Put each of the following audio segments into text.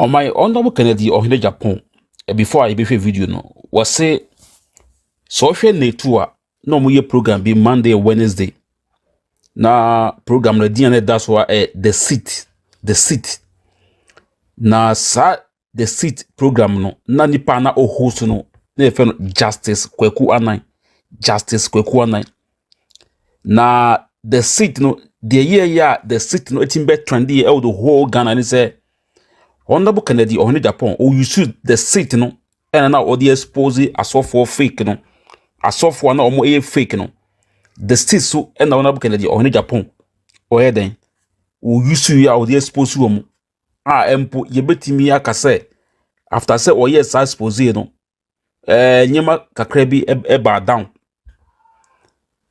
ɔman ɔnɔbo kennedy ɔhene japan before a yɛbɛhwɛ video no wɔse sɛ ɔhwɛ natu a na wɔyɛ program bi monday wednesday na program no din a na ɛda so a ɛ the seat the seat na saa The Seat programme no, na nipa na o host no, na yɛfrɛ no Justice Kweku Anan. Justice Kweku Anan. Na The Seat no, deɛ yɛyɛ a The Seat no ɛtumi bɛ trend yɛ ɛwɔ the whole Ghana ne sɛ, Honorable Kennedy Ɔhene Japan, o use The Seat no, ɛna na ɔde expose asɔfoɔ fake no, asɔfoɔ a na wɔn ɛyɛ fake no. The Seat so ɛna Honorable Kennedy Ɔhene Japan, ɔyɛ dɛn? O use yɛ a ɔde expose wɔn. a mpo yɛbɛtumi aka sɛ after sɛ ɔyɛɛ saa expose no ɛɛ nneɛma kakra bi ɛbaa down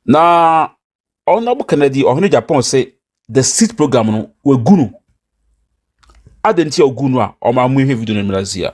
na ɔnabɔ kennedy ɔhene japan sɛ the seed program no wɔagu no adɛn nti a ɔgu no a ɔma mo hwɛ video no mmra ase a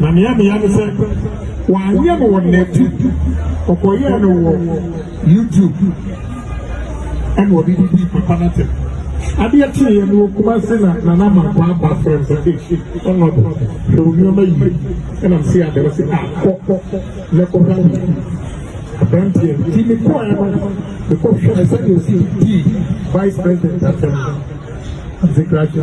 Na nea meyɛ ne sɛ wɔanyɛ no wɔ nɛte ɔkɔyɛɛ no wɔ youtube ɛna ɔde didi papa no atɛm adeɛ kyeeɛ no ɔkuma se na nana mankɔ aba frɛ m sɛ ɛhye ɔno abo hwɛ wo nneɛma yie ɛnam se adeɛ wɔ se a kɔ kɔ na kɔhwɛ wo aberanteɛ nti mekɔɛ no mekɔhwɛ sɛdeɛ ɔsi dii vice president atɛm nti krakye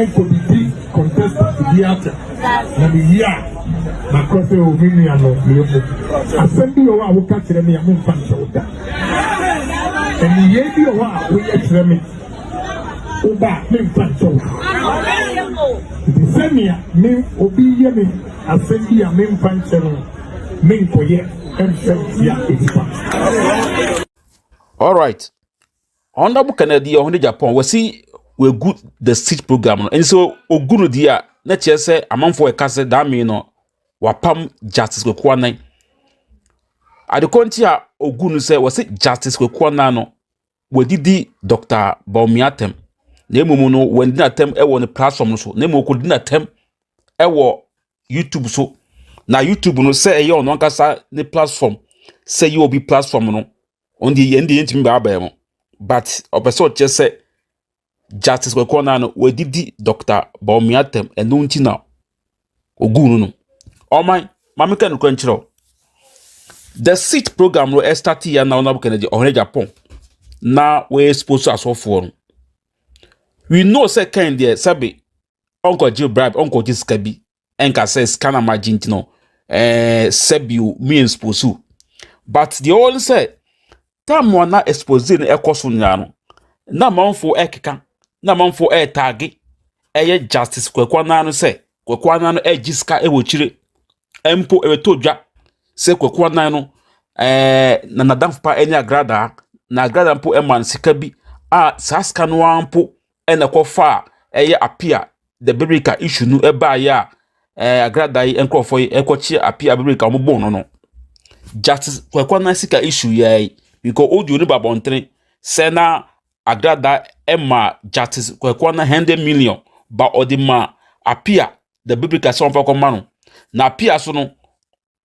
Ɛnkɔ bibi contestant bi ata na me yi a na kɔ sɛ o me nua no yɛ mu asɛm bi wɔ hɔ a woka kyerɛ me a mo nfa nkyɛw da ɛne yɛ bi wɔ hɔ a woyɛ kyerɛ me wo ba me nfa nkyɛw nti sɛnea me obi yɛ me asɛm bi a me nfa nkyɛ no me nkɔyɛ ɛnfɛ ntia ɛtipa. All right. Honorable Kennedy ɔho ne Japan wɔsi wɔagu the seat program no ɛnso ogu no di a na kyerɛ sɛ amanfo ɛka sɛ dame no wapam Justice Kwekuanan adekɔ nti a ogu no sɛ wɔsi Justice Kwekuanan no wɔdidi Dr. Bawumia atɛm na mmom no wɔndi n'atɛm ɛwɔ ne platform no so na mmom wɔkɔdi n'atɛm ɛwɔ YouTube so na YouTube no sɛ ɛyɛ ɔno ankasa ne platform sɛ yɛ obi platform no wɔn deɛ yɛn deɛ yɛntumi baa abɛn mu but ɔpɛ sɛ ɔkyɛ sɛ justice kɔkɔɔ naa no wɔadidi dɔkta bɔnmia tɛm ɛno nti na ogu no no ɔman maame ka nokora nkyerɛ o the seat program no ɛstati yɛ na ɔnabɔ kɛnɛdi ɔhene japan na wɔyɛ expose asɔfoɔ no we know sɛ kɛn deɛ sɛbe ɔnkɔgye bribe ɔnkɔgye sika bi ɛnka sɛ sika na magye nti no ɛɛ sɛbio mi expose but deɛ ɔwɔ no sɛ tam a na expose no ɛkɔ so nyinaa no na amanfo ɛkeka na amanfo ɛtaage ɛyɛ justice kwakuo anan no sɛ kwakuo anan no ɛgye sika ɛwɔ kyire mpo ɛbɛtɔ dwa sɛ kwakuo anan no ɛɛ na nadamfo pa ɛne agradaa na agradaa mpo ɛma no sika bi a saa sika no ara mpo. na ɛkɔfaa ɛyɛ Apia the Berika issue no ɛbaeɛ a ɛɛ agrada yi nkurɔfoɔ yi ɛkɔkye Apia Berika wɔn bɔn no no Justice Kweku Anansi issue yɛ yi because odi oni ba abɔntene sɛ na agrada ɛma Justice Kweku Anansi hundred million ba ɔde ma Apia the Berika sɛ wɔn fa kɔma no na Apia so no.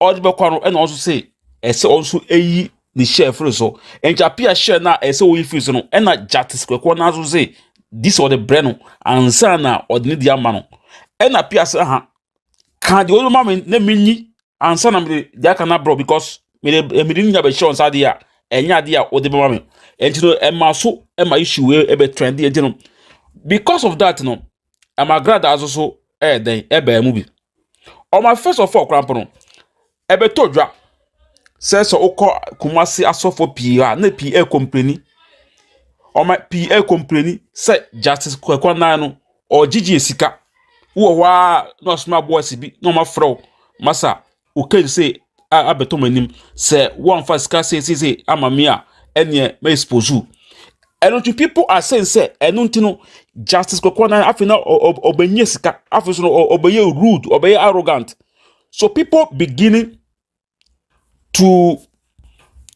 ɔde bɛkɔ no ɛna ɔnso se ɛsɛ ɔnso eyi ne hyɛ firi so nti apia hyɛ na ɛsɛ oyi firi so no ɛna gyatis kɔkɔɔ n'aso se dis ɔde brɛ no ansa na ɔde ne di ama no ɛna apia se ha ka deɛ ɔde ma me na me nyi ansa na me de deɛ aka na brɛ because me de me de nya bɛ hyɛ ɔnsa adeɛ a ɛnyɛ adeɛ a ɔde bɛma me ɛnti no ɛma so ɛma issue ɛbɛ trend ɛnti no because of that no. ɛma gradaa nso so yɛ dɛn ɛbaa mu bi wɔn afɛsɔfo ɔkora mpo no ɛbɛtɔ dwa sɛ sɛ wokɔ kumasi asɔfo pii a na pii ɛkɔmpleni wɔn pii ɛkɔmpleni sɛ justice kwakwa nan no ɔgyegye sika wowɔ hɔ a na ɔsoma boɔsi bi na wɔn afrɛ wo masa. Cocaine se abɛtɔ m'anim sɛ wɔamfa sika seesese ama me a ɛneɛ ma expose you. ɛno nti people are saying sɛ ɛno nti no justice kɔkɔɔ na afei na ɔbɛnyɛ sika afei so no ɔbɛyɛ rude ɔbɛyɛ arrogant so people beginning to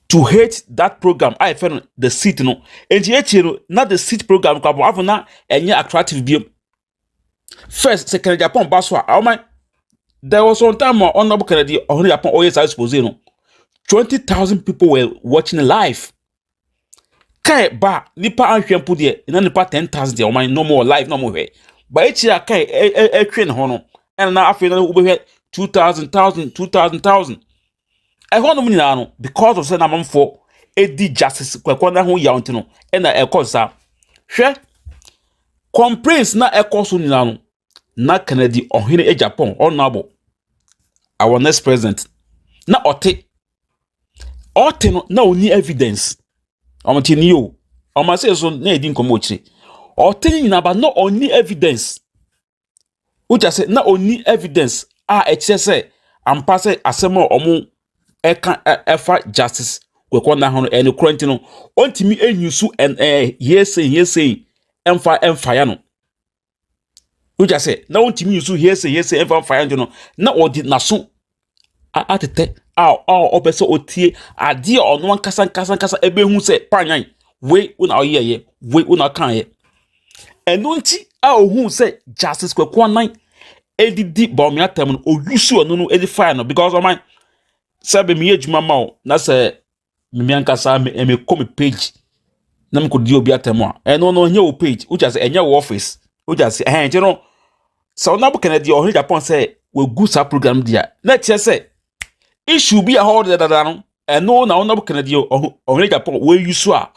to hate that program a yɛfɛ no the seat no nti ekyir no na the seat program kɔ abɔ afei na ɛnyɛ attractive biom first sɛ kennedy japan ba so a ɔma there was one time a ɔnabɔ kennedy ɔhene japan ɔyɛ saa expose no twenty thousand people were watching live kae ba nipa ahwɛ mpo deɛ na nipa ten thousand deɛ ɔma no more live na ɔmo hwɛ ba ekyir a kae ɛtwe ne ho no ɛna na afei na wobɛhwɛ two thousand thousand two thousand thousand Ɛhɔnom nyinaa no, because of sɛ na amanfoɔ di justice kwakwa no ho yaw nti no, ɛna ɛkɔ saa. Hwɛ, complaints na ɛkɔ so nyinaa no, na Kennedy ɔhene e Japan, honorable, our next president, na ɔte. Ɔte no, na ɔni evidence. Ɔmo te ni o. Ɔmo ase so na ɛdi nkɔmɔ akyire. Ɔte no nyinaa ba na ɔni evidence. Wogya sɛ na ɔnni evidence a ɛkyerɛ sɛ ampa sɛ asɛm a wɔka ɛfa Justice Kwesi Nah ho no ɛyɛ nokorɛ nti no, ɔntumi nyi so ɛn ɛɛ hearsay hearsay ɛmfa ɛmfa ya no. Wogya sɛ na ɔntumi nyi so hearsay hearsay ɛmfa ɛmfa ya no nti no, na ɔde n'aso atetɛ a ɔpɛ sɛ ɔtie adeɛ a ɔno ankasa ankasa ankasa bɛhu sɛ paanyan wei wo na woyɛeɛ, wei wo na wokaeɛ. Ɛno nti a ɔhuu sɛ Justice Kweku Annan didi Bawumia atɛm no, ɔusuu ɛno no de faa no because ɔman sɛ meyɛ adwuma ma wo na sɛ mimi ankasa me eh, me kɔ me page na me kɔ di obi atɛm a ɛno no ɛnyɛ wo page wogya sɛ ɛnyɛ wo office wogya sɛ ɛhɛn nti no sɛ ɔno abo kɛnɛ deɛ ɔhene japan sɛ wagu saa program deɛ a na ɛkyerɛ sɛ issue bi a hɔ ɔde dada no ɛno na ɔno abo kɛnɛ deɛ ɔhene japan wɔayi so a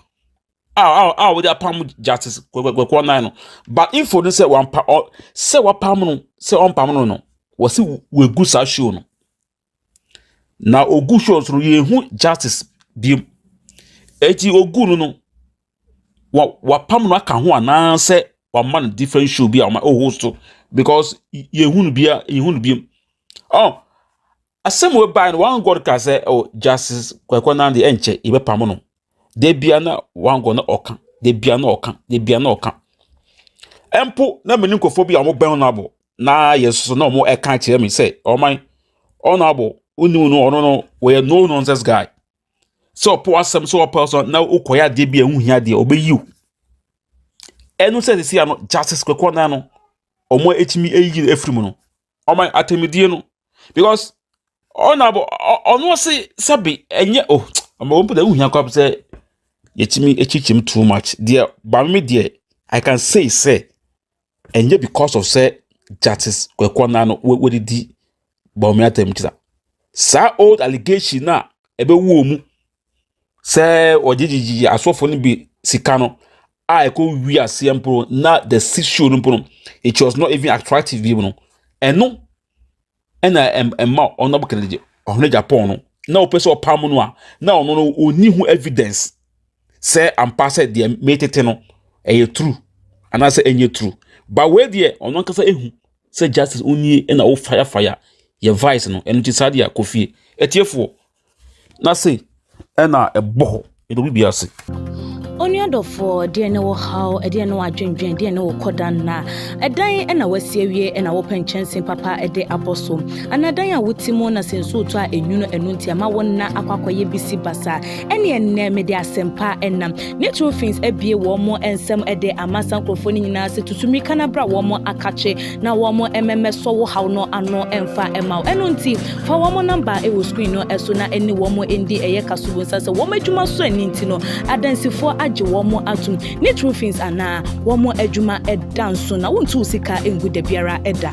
a a a wɔde apam justice kwekwakwekwa nan no but info no sɛ wampa ɔ sɛ wapam no sɛ ɔmpam no no wɔsi wagu saa show no Na ogu show so no yɛnhu justice biom. Eti ogu no no wa wapam no aka ho anaasɛ wama no different show bi a ɔma ɔhost so because yɛnhu no bia yɛnhu no biom. Ɔn asɛm a ɛbae no one God ka sɛ oh justice Kwariko Nande ɛnkyɛ yɛbɛpam no. da bia na wangɔ na ɔka da bia na ɔka da bia na ɔka ɛmpo na mene nkurɔfoɔ bi a wɔbɛn ɔno abɔ na yɛ soso na wɔn ɛka kyerɛ me sɛ ɔman ɔno abɔ wonu no ɔno no wɔyɛ no nonsense guy sɛ ɔpɔ asɛm sɛ ɔpɛ so na wokɔyɛ adeɛ bi a ɛho hia deɛ ɔbɛyi o ɛno sɛ sisi ano justice kwakɔ nan no wɔn ɛtumi ɛyi no ɛfiri mu no ɔma atemidie no because ɔna abɔ ɔno ɔse sɛbe ɛnyɛ o ɔma wɔn pɛtɛ wohia kɔ sɛ yɛtumi akyikyim too much deɛ bame deɛ i can say sɛ ɛnyɛ because of sɛ justice kwekɔ na no wɔdidi bɔnmi atemkyira saa old allegation na ɛbɛwɔ mu sɛ wɔgyegyegye asɔfo no bi sika no a ɛkɔ wi aseɛ mpo na the six show no mpo no it was not even attractive bi mu no ɛno ɛna ɛma ɔno kɛlɛ gye ɔhene japan no na ɔpɛ sɛ ɔpam no a na ɔno no ɔni ho evidence sɛ ampa sɛ deɛ metete no ɛyɛ true anaasɛ ɛnyɛ true ba wei deɛ ɔno ankasa ehu sɛ justice onie ɛna ɔfaya faya yɛ vice no ɛno ti saa deɛ akɔ fie ɛtiefoɔ. Na sei ɛna ɛbɔ hɔ, ɛdɔ bibi ase. Onua dɔfoɔ, deɛ ne wo haw, deɛ ne wo adwendwen, deɛ ne wo kɔda nna. Ɛdan ɛna wasi awie ɛna wopɛ nkyɛnse papa ɛde abɔ so. Anaa dan a wote mu na sɛ nsuo tɔ a ɛnwunu ɛno nti ɛma wo nna akɔ akɔyɛ bisi basa. Ɛneɛ nnɛ mede asɛmpa ɛna ne true fins abie wɔn nsam ɛde ama saa nkorɔfoɔ no nyinaa sɛ tutu mirika na bra wɔn akakye na wɔmmɛmɛsɔ wo haw no ano mfa mma wo. Ɛno nti, fa wɔn namba wɔ screen no so na ɛne wɔn ndi ɛyɛ ka so. Wonsa sɛ wɔn adwuma so ani nti no, adansifoɔ agye wɔn atom. Ne true fins anaa wɔn adwuma da nso na wontu wo sika ngu da biara da.